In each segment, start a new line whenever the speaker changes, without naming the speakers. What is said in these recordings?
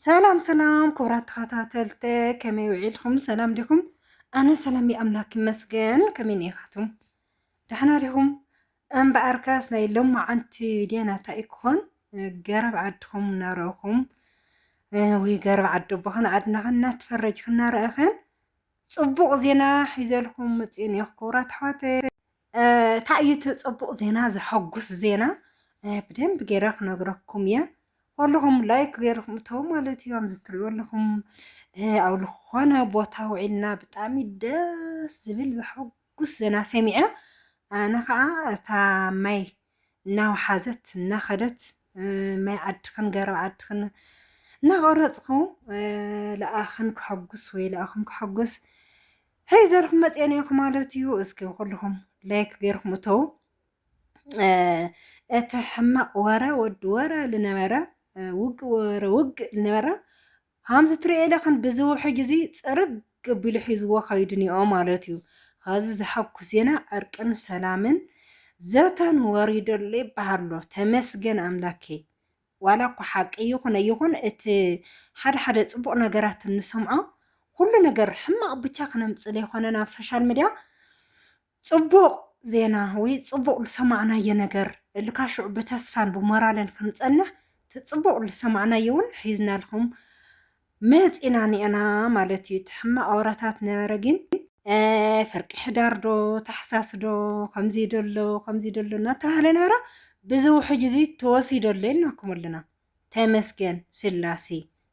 ሰላም ሰላም ክቡራት ተኸታተልቲ ከመይ ውዒልኩም ሰላም ዲኹም ኣነ ሰላም ኣምላክ ይመስገን ከመይ ኔኻቱም ዳሕና ዲኹም እምበኣርከስ ናይ ሎማዓንቲ ቪድዮ ናታ ይክኾን ገረብ ዓድኹም እናረእኹም ወይ ገረብ ዓዲ ኣቦኽን ዓድናኽን እናተፈረጅክ እናረእኽን ፅቡቕ ዜና ሒዘልኩም መፅእ ኔኹ ክቡራት ኣሕዋተይ እታይ እዩ እቲ ፅቡቅ ዜና ዘሐጉስ ዜና ብደንብ ገይረ ክነግረኩም እየ ኩልኹም ላይክ ገይርኩም እተው ማለት እዩ ኣብዚ ትሪኡ ኣለኹም ኣብ ዝኾነ ቦታ ውዒልና ብጣዕሚ ደስ ዝብል ዘሐጉስ ዜና ሰሚዐ ኣነ ከዓ እታ ማይ እናውሓዘት እናኸደት ማይ ዓድኽን ገረብ ዓድኽን እናቆረፅኹ ለኣኽን ክሐጉስ ወይ ለኣኹም ክሐጉስ ሒዘልኩም መፅኤ ነይኹ ማለት እዩ። እስኪ ኩልኹም ላይክ ገይርኩም እተው። እቲ ሕማቕ ወረ ወዲ ወረ ዝነበረ ውግእ ወረ ውግእ ዝነበረ ሃምዚ ትሪኤ ለኽን ብዚ ውሕጅ እዚ ጽርግ ኣቢሉ ሒዝዎ ከይዱ ኒኦ ማለት እዩ ኸዚ ዘሐጉስ ዜና ዕርቅን ሰላምን ዘተን ወሪዱ ኣሎ ይበሃል ኣሎ ተመስገን ኣምላኬ ዋላ እኳ ሓቂ ይኹን ኣይኹን እቲ ሓደ ሓደ ጽቡቅ ነገራት እንሰምዖ ኩሉ ነገር ሕማቅ ብቻ ክነምጽእ ለይኾነ ናብ ሶሻል ምድያ ጽቡቕ ዜና ወይ ጽቡቕ ልሰማዕናዮ ነገር ልካሽዑ ብተስፋን ብሞራልን ክንጸንሕ እቲ ጽቡቕ ልሰማዕናዮ ውን ሒዝናልኩም መጺና ኒኤና ማለት እዩ እቲ ሕማቕ ኣውራታት ነበረ ግን ፍርቂ ሕዳር ዶ ታሕሳስ ዶ ከምዚ ዶ ኣሎ ከምዚ ዶ ኣሎ እናተባህለ ነበረ ብዚ ውሕጅ እዚ ተወሲዶ ኣሎ ኢልናኩም ኣለና። ተመስገን ስላሴ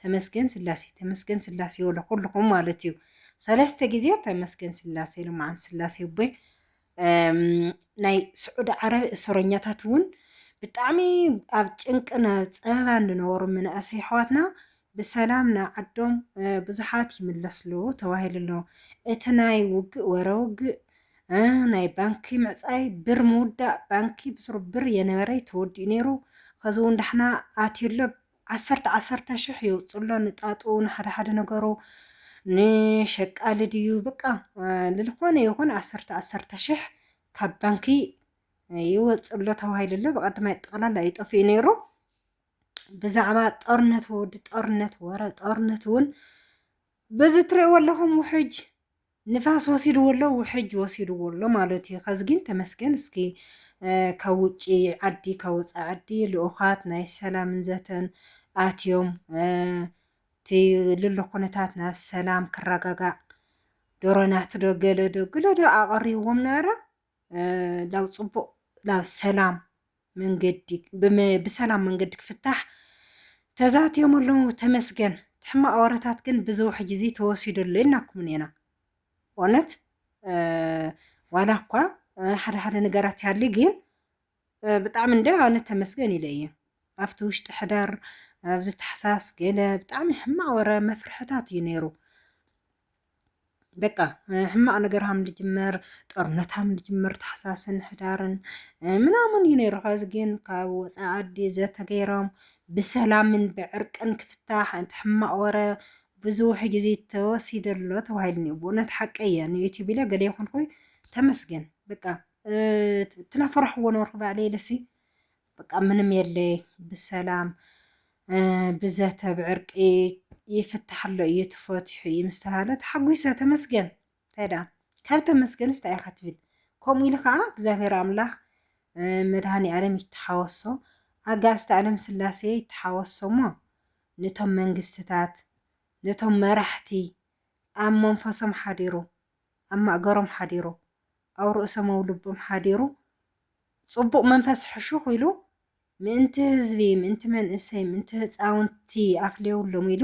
ተመስገን ስላሴ ተመስገን ስላሴ ወለ ኩልኹም ማለት እዩ ሰለስተ ግዜ ተመስገን ስላሴ ልማዓን ስላሴ ቦይ ናይ ስዑዲ ዓረብ እሰረኛታት እውን ብጣዕሚ ኣብ ጭንቅን ፀበባን ዝነበሩ መናእሰይ ኣሕዋትና ብሰላም ናብ ዓዶም ብዙሓት ይምለስሉ ተባሂሉ ኣሎ እቲ ናይ ውግእ ወረ ውግእ እህ ናይ ባንኪ ምዕጻይ ብር ምውዳእ ባንኪ ብስሩ ብር የነበረይ ተወዲኡ ነይሩ ኸዚ ውን ዳሕና ኣትዩ ኣሎ ዓሰርተ ዓሰርተ ሽሕ የውጽእ ኣሎ ንጣጡ ንሓደ ሓደ ነገሩ ንሸቃሊ ድዩ በቃ ልልኾነ ይኹን ዓሰርተ ዓሰርተ ሽሕ ካብ ባንኪ ይወጽእ ኣሎ ተባሂሉ ኣሎ ብቐድማይ ጠቕላላ እዩ ጠፊኡ ነይሩ ብዛዕባ ጦርነት ወዲ ጦርነት ወረ ጦርነት እውን በዚ ትርእይዎ ኣለኹም ውሕጅ ንፋስ ወሲድዎ ኣሎ ውሕጅ ወሲድዎ ኣሎ ማለት እዩ። ከዚ ግን ተመስገን እስኪ ካብ ውጪ ዓዲ ካብ ወፃኢ ዓዲ ልኡኻት ናይ ሰላምን ዘተን ኣትዮም እቲ ልሎ ኩነታት ናብ ሰላም ክረጋጋዕ ዶሮናትዶ ገለዶ ግለዶ ኣቐሪብዎም ነበረ። ናብ ፅቡቅ ናብ ሰላም መንገዲ ብሰላም መንገዲ ክፍታሕ ተዛትዮም ኣለዉ ተመስገን እቲ ሕማቅ ወረታት ግን ብዚ ውሕጅ እዚ ተወሲዱ ኣሎ ኢልናኩም ኔና እውነት ዋላ እኳ ሓደ ሓደ ነገራት ይሃሊ ግን ብጣዕሚ እንድያ ኣነ ተመስገን ኢለ እየ ኣብቲ ውሽጢ ሐዳር ኣብዚ ታሕሳስ ገለ ብጣዕሚ ሕማቅ ወረ መፍርሕታት እዩ ነይሩ በቃ ሕማቅ ነገር ሃም ልጅመር ጦርነት ሃም ልጅመር ታሕሳስን ሕዳርን ምናምን እዩ ነይሩ ከዚ ግን ካብ ወፃኢ ዓዲ ዘተገይሮም ብሰላምን ብዕርቅን ክፍታሕ እቲ ሕማቅ ወረ ብዙሕ ግዜ ተወሲደሎ ተባሂሉ ብእውነት ሓቀየ ንዩቲዩብ ኢለ ገለ ይኹን ኮይ ተመስገን በቃ ትላፈራሕዎ ነበርኩ ባዕለይ ልሲ በቃ ምንም የለ ብሰላም ብዘተ ብዕርቂ ይፍታሕ ኣሎ እዩ ትፈትሑ እዩ ምስ ተባህለ ተሓጒሰ ተመስገን እንታይ ደኣ ካብ ተመስገን እንታይ ኢኻ ትብል ከምኡ ኢሉ ከዓ እግዚኣብሔር ኣምላኽ መድሃኒ ዓለም ይተሓወሶ ኣጋእዝተ ዓለም ስላሴ ይተሓወሶ እሞ ነቶም መንግስትታት ነቶም መራሕቲ ኣብ መንፈሶም ሓዲሩ ኣብ ማእገሮም ሓዲሩ ኣብ ርእሶም ኣብ ልቦም ሓዲሩ ጽቡቕ መንፈስ ሕሹኽ ኢሉ ምእንቲ ህዝቢ ምእንቲ መንእሰይ ምእንቲ ህጻውንቲ ኣፍልዮውሎም ኢሉ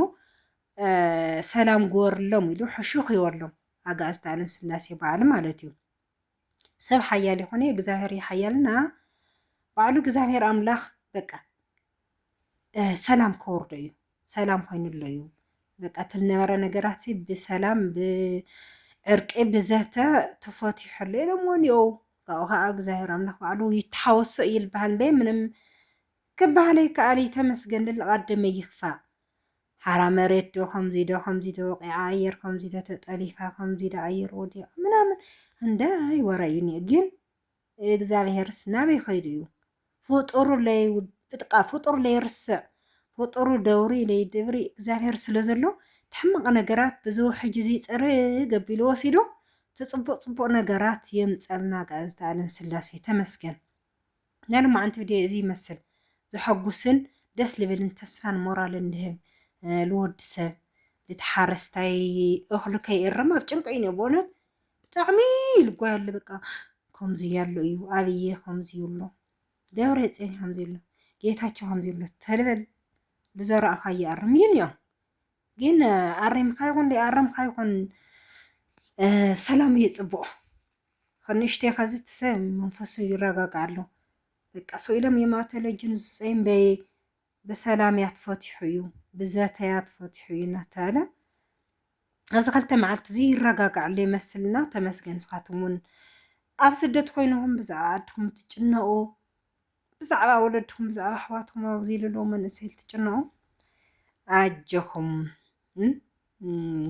ሰላም ግበርሎም ኢሉ ሕሹኽ ይበሎም ኣጋእዝተ ኣለም ስላሴ በዓል ማለት እዩ። ሰብ ሓያል ይኾነ እግዚኣብሔር ይሓያልና ባዕሉ እግዚኣብሔር ኣምላኽ በቃ ሰላም ከወርዶ እዩ ሰላም ኮይኑ ኣሎ እዩ በቃ እቲ ዝነበረ ነገራት ብሰላም ብዕርቂ ብዘተ ተፈትሑ ኣሎ ኢሎም እውን እየው ካብኡ ከዓ እግዚኣብሔር ኣምላክ ባዕሉ ይተሓወሶ እዩ ዝበሃል እምበይ ምንም ክበሃል ይከኣል እዩ ተመስገን ልልቃደመ ይክፋእ ሓራ መሬት ዶ ከምዚ ዶ ከምዚ ዶ ወቂዓ ኣየር ከምዚ ዶ ተጠሊፋ ከምዚ ዶ ኣየር ወዲቃ ምናምን እንዳይ ወረ እዩ ግን እግዛብሄርስ ናበይ ከይዱ እዩ ፍጡሩ ለይ ብጥቃ ፍጡር ለይርስዕ ፍጡሩ ደውሪ ለይድብሪ እግዛብሄር ስለ ዘሎ ትሕማቅ ነገራት ብዚ ውሕጅ እዚ ጽርግ ኣቢሉ ወሲዱ ትጽቡቅ ጽቡቅ ነገራት የምጸልና ጋእዝተ ኣለም ስላሴ ተመስገን ናይ ሎማዓንቲ ቪድዮ እዚ ይመስል ዘሐጉስን ደስ ልብልን ተስፋን ሞራልን ልህብ ልወዲ ሰብ ልቲ ሓረስታይ እክሉ ከይእረም ኣብ ጭንቂ እዩ ኒኦ ብእውነት ብጣዕሚ ልቦይ ኣሎ በቃ ከምዚ ያሎ እዩ ኣብዬ ከምዚ ይብሎ ደብረፅዮን ከምዚ ይብሎ ጌታቸው ከምዚ ይብሎ ተልበል ዝዘራእካዮ ኣርም ይን እዮም ግን ኣሪምካ ይኹን ኣረምካ ይኹን ሰላም እዩ ፅቡቕ ከንእሽተይ ከዚ ትሰብ መንፈሱ ይረጋጋእ ኣሎ በቃ ሰው ኢሎም የማተለጅን ዝፀይም በየ ብሰላም እያ ትፈትሑ እዩ ብዘተ እያ ትፈትሑ እዩ እናተባህለ ኣብዚ ክልተ መዓልቲ እዚ ይረጋጋዕ ኣሎ ይመስልና ተመስገን ንስኻትኩም እውን ኣብ ስደት ኮይንኹም ብዛዕባ ዓድኹም ትጭነቑ ብዛዕባ ወለድኹም ብዛዕባ ኣሕዋትኩም ኣብዚ ኢሉ መንእሰይ ትጭነቑ ኣጀኹም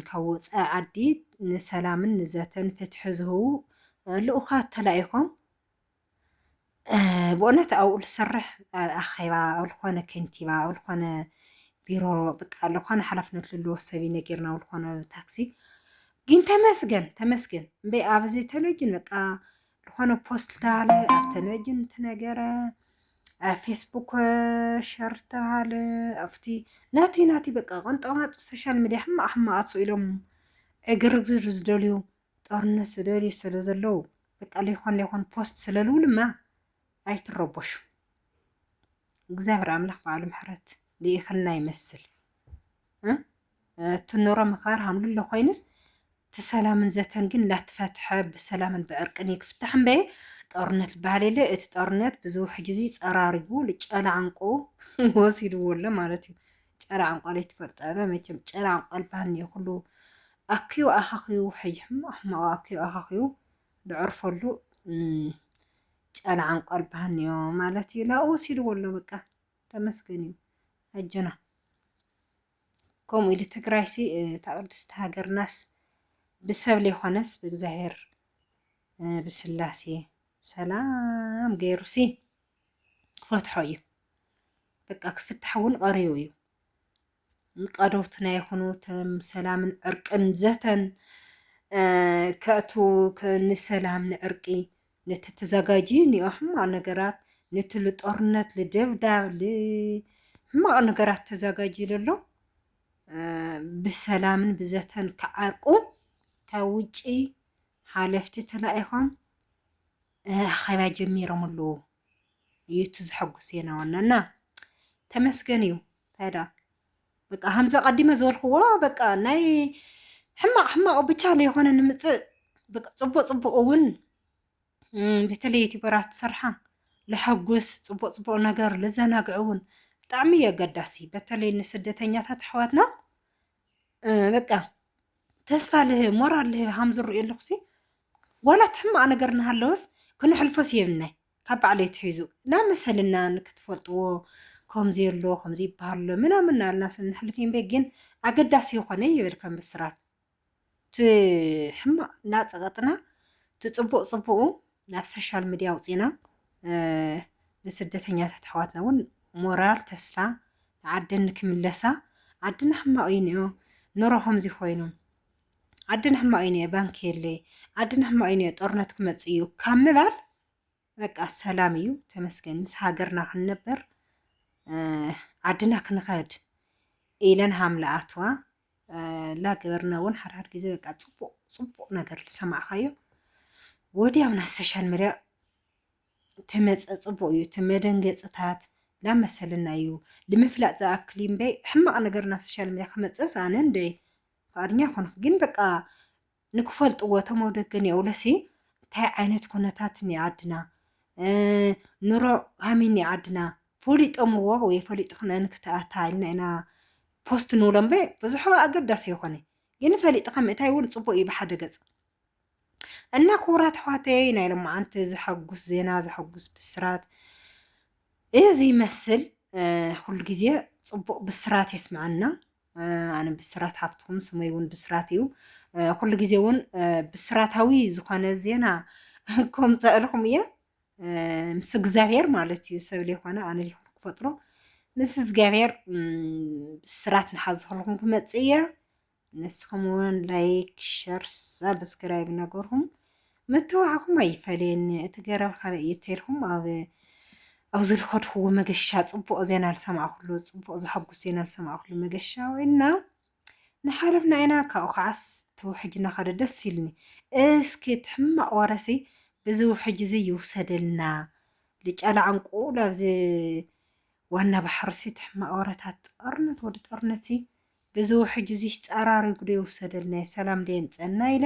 ካብ ወፃኢ ዓዲ ንሰላምን ንዘተን ፍትሒ ዝህቡ ልኡኻት ተላኢኾም ብእውነት ኣብኡ ዝሰርሕ ኣኼባ ኣብ ዝኾነ ከንቲባ ኣብ ዝኾነ ቢሮ በቃ ዝኾነ ሓላፍነት ዘለዎ ሰብ እዩ ነጊርና ኣብ ዝኾነ ታክሲ ግን ተመስገን ተመስገን እምበይ ኣብዚ ቴሌቪዥን በቃ ዝኾነ ፖስት ተባለ ኣብ ቴሌቪዥን ተነገረ ኣብ ፌስቡክ ሸር ተባለ ኣብቲ ናቲ ናቲ በቃ ቅንጦማጡ ሶሻል ሚዲያ ሕማቕ ሕማቕ ኣትሱ ኢሎም ዕግርግር ዝደልዩ ጦርነት ዝደልዩ ስለ ዘለዉ በቃ ለይኮን ለይኮን ፖስት ስለ ልብሉማ ኣይትረቦሹ እግዚኣብሔር ኣምላክ በዓሉ ምሕረት ልኢክልና ይመስል እቲ ኑሮ ምክባር ሃምልሎ ኮይንስ እቲ ሰላምን ዘተን ግን ላትፈትሐ ብሰላምን ብዕርቅን ክፍታሕ እምበየ ጦርነት ዝበሃል የለ እቲ ጦርነት ብዙሕ ግዜ ፀራሪጉ ጨላዕንቁ ወሲድዎ ኣሎ ማለት እዩ ጨላዕንቋ ለይትፈልጠበ መቸም ጨላዕንቋ ልበሃል እኒኦ ኩሉ ኣክዩ ኣኻኽዩ ሐይሕም ኣሕማቑ ኣክዩ ኣኻኽዩ ድዕርፈሉ ጫላ ዓንቋል ብሃንዮ ማለት እዩ ላኡ ወሲድዎ ኣሎ በቃ ተመስገን እዩ ኣጆና ከምኡ ኢሉ ትግራይሲ እታ ቅድስቲ ሃገርናስ ብሰብ ዘይኮነስ ብእግዚኣብሔር ብስላሴ ሰላም ገይሩሲ ክፈትሖ እዩ በቃ ክፍታሕ እውን ቐሪቡ እዩ ቀዶትና ይኹኑ ተም ሰላምን ዕርቅን ዘተን ከእቱ ንሰላም ንዕርቂ ነቲ ተዘጋጂ እኒኦ ሕማቅ ነገራት ነቲ ልጦርነት ልደብዳብ ልሕማቅ ነገራት ተዘጋጂ ለሎ ብሰላምን ብዘተን ክዓርቁ ካብ ውጪ ሓለፍቲ ተላኢኾም ኣኼባ ጀሚሮም ኣለዉ። እዩ እቲ ዘሐጉስ ዜና ዋናና ተመስገን እዩ እንታይ ደኣ በቃ ከምዚ ኣቐዲመ ዝበልክዎ በቃ ናይ ሕማቕ ሕማቕ ብቻ ለይኮነ ንምፅእ በቃ ፅቡቕ ፅቡቕ እውን በተለይ ዩቲበራት ዝሰርሓ ለሐጉስ ፅቡቕ ፅቡቕ ነገር ለዘናግዕ እውን ብጣዕሚ እዩ ኣገዳሲ በተለይ ንስደተኛታት ኣሕዋትና በቃ ተስፋ ልህብ ሞራል ልህብ ሃም ዝርእዮ ኣለኹሲ ዋላ እቲ ሕማቕ ነገር እናሃለወስ ክንሕልፎስ የብልናይ ካብ ባዕለይ ትሒዙ ላመሰልና ንክትፈልጥዎ ከምዚ ኣሎ ከምዚ ይበሃል ኣሎ ምናምን እናልና ስንሕልፍ እምበይ ግን ኣገዳሲ ይኾነ ይብል ከም ብስራት እቲ ሕማቅ እናፀቀጥና እቲ ፅቡቅ ፅቡቁ ናብ ሰሻል ምድያ ኣውፂእና ንስደተኛታት ኣሕዋትና እውን ሞራል ተስፋ ንዓደን ንክምለሳ ዓድና ሕማቅ እዩ ኒኦ ኑሮ ከምዚ ኮይኑ ዓድና ሕማቅ እዩ ኒኦ ባንኪ የለይ ዓድና ሕማቅ እዩ ኒኦ ጦርነት ክመፅእ እዩ ካብ ምባል በቃ ሰላም እዩ ተመስገን ምስ ሃገርና ክንነበር ዓድና ክንኸድ ኢለን ሃምለኣትዋ ላገበርና እውን ሓድሓድ ግዜ በቃ ፅቡቅ ፅቡቅ ነገር ዝሰማዕካዮ ወዲያው ናብ ሶሻል ሚዲያ ትመፀ ፅቡቅ እዩ እቲ መደንገፅታት ናብ መሰልና እዩ ንምፍላጥ ዝኣክል እምበይ ሕማቅ ነገር ናብ ሶሻል ሚዲያ ክመፅስ ኣነ እንደ ፍቃድኛ ኮንኩ ግን በቃ ንክፈልጥዎ እቶም ኣብ ደገ ኒኦውለሲ እንታይ ዓይነት ኩነታት እኒኣ ዓድና ኑሮ ሃሚ እኒኣ ዓድና ፈሊጦምዎ ወይ ፈሊጥክን እንክትኣታ ኢልና ኢና ፖስት ንብሎ እምበ ብዙሑ ኣገዳሲ ይኾነ ግን ፈሊጥካ ምእታይ እውን ፅቡቅ እዩ ብሓደ ገፅ እና ክቡራት ኣሕዋተይ ናይ ሎማዓንቲ ዘሐጉስ ዜና ዘሐጉስ ብስራት እዚ ይመስል። ኩሉ ግዜ ፅቡቅ ብስራት የስምዐና። ኣነ ብስራት ሃፍትኹም ስመይ እውን ብስራት እዩ ኩሉ ግዜ እውን ብስራታዊ ዝኾነ ዜና ከምፀእልኹም እየ ምስ እግዚኣብሔር ማለት እዩ ሰብ ዘይኮነ ኣነ ዘይኮነ ክፈጥሮ ምስ እግዚኣብሔር ብስራት ንሓዝኹልኩም ክመፅእ እየ ንስኹም እውን ላይክ ሸር ሳብስክራይብ ነገርኩም መተባዕኩም ኣይፈለየኒ እቲ ገረብ ካበይ እዩ ተይልኩም ኣብ ኣብዚ ልኸድክዎ መገሻ ጽቡቕ ዜና ልሰማዕኩሉ ጽቡቕ ዘሐጉስ ዜና ልሰማዕኩሉ መገሻ ወይና ንሓለፍና ኢና ካብኡ ከዓስ ትውሕጅና ከደ ደስ ኢሉኒ እስኪ እቲ ሕማቕ ወረሲ ብዚ ውሕጅ እዚ ይውሰደልና ልጨላ ዕንቁ ላብዚ ዋና ባሕርሲ እቲ ሕማቕ ወረታት ጦርነት ወዲ ጦርነትሲ ብዚ ውሕጅ እዚ ጸራሪጉ ዶ ይውሰደልና ሰላም ዶ የምጸና ኢላ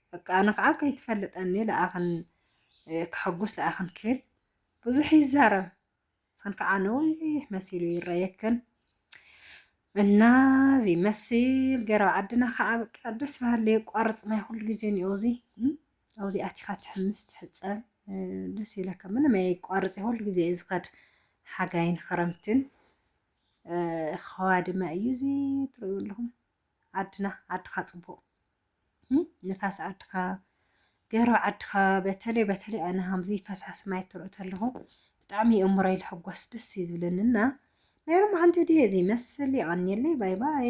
በቃ ኣነ ከዓ ከይትፈልጠኒ ለኣኽን ከሐጉስ ለኣኽን ክብል ብዙሕ ይዛረብ ሰን ከዓ ነዊሕ መሲሉ ይረየክን እና እዚ መሲል ገረብ ዓድና ከዓ በቃ ደስ በሃሊ የቋርፅ ማይ ኩሉ ግዜ እኒኦ እዚ ኣብዚ ኣቲኻ ትሕምስ ትሕፀብ ደስ ይለካ ምንም የቋርፅ ኩሉ ግዜ እዩ ዝኸድ ሓጋይን ክረምትን ኸዋ ድማ እዩ እዚ ትርእዩ ኣለኹም ዓድና ዓድኻ ፅቡቅ ንፋስ ዓድኻ ገረብ ዓድኻ በተለይ በተለይ ኣነ ከምዚ ፈሳሲ ማይ ትርኢ ተለኹ ብጣዕሚ የእምሮይ ልሕጎስ ደስ እዩ ዝብለኒ እና ናይ ሎማዓንቲ ድየ ዘይመስል የቐንየለይ ባይ ባይ